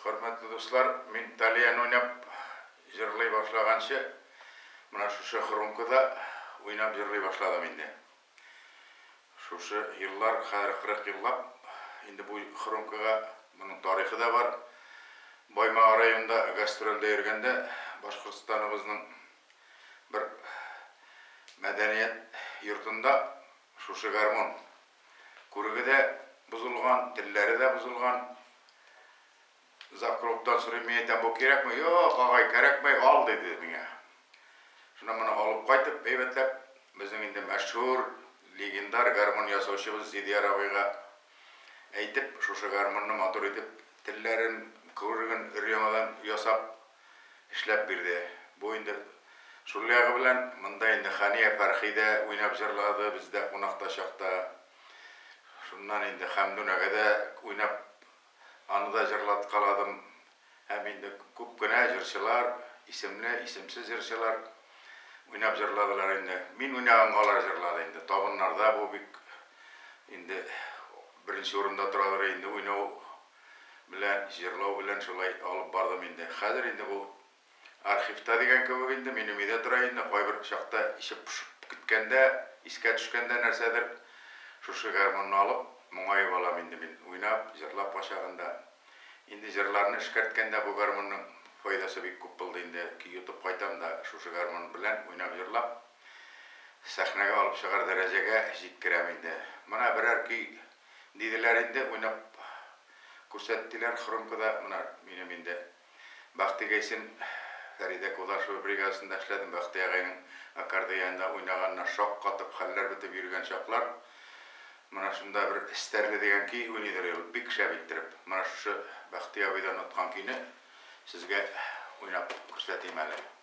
Хөрмәтле дуслар, мин тальян уйнап җырлый башлаганчы, менә шушы хрумкада уйнап җырлый башладым инде. Шушы еллар, хәзер 40 еллап, инде бу хрумкага, моның тарихы да бар. Баймага районында гастрольдә йөргәндә, Башкортстаныбызның бер мәдәният йортында шушы гармун Күреге дә бозылган, телләре дә бозылган. Завкровтан сорыйм, мин әйтәм, бу кирәкме? Юк, агай, кәрәкмәй, ал, диде миңа. Шуннан моны алып кайтып, әйбәтләп, безнең инде мәшһүр, легендар гармун ясаучыбыз Зидияр абыйга әйтеп, шушы гармунны матур итеп, телләрен, күреген өр-яңадан ясап, эшләп бирде. Бу инде шул ягы белән монда инде Хания Фәрхи дә уйнап җырлады бездә кунакта чакта. Шуннан инде Хәмдүнәгә дә уйнап аны да җырлаткаладым. Һәм инде күп кенә җырчылар, исемле, исемсез җырчылар уйнап җырладылар инде. Мин уйнаганга алар җырлады инде. Табыннарда бу бик инде беренче урында торадыр инде уйнау белә җырлау белән шулай алып бардым инде. Хәзер инде бу архивта дигән кебек инде, минем өйдә тора инде, кайбер чакта эче пошып киткәндә, искә төшкәндә нәрсәдер, шушы гармунны алып, моңаеп алам инде мин, уйнап, җырлап кайчагында. Инде җырларны эшкәрткәндә бу гармунның файдасы бик күп булды инде, көй йотып кайтам да, шушы гармун белән уйнап-җырлап, сәхнәгә алып чыгар дәрәҗәгә җиткерәм инде. Менә берәр көй Диделәр инде, уйнап күрсәттеләр хромкада, менә минем инде Бактигайсин, Фәридә Кудашева бригадасында эшләдем, Бакти агайның аккордеонда уйнаганына шаккатып, хәлләр бетеп йөргән чаклар, менә шунда бер Стәрле дигән көй уйныйдыр ул, бик шәп иттереп, менә шушы Бакти абыйдан откан көйне сезгә уйнап күрсәтим әле.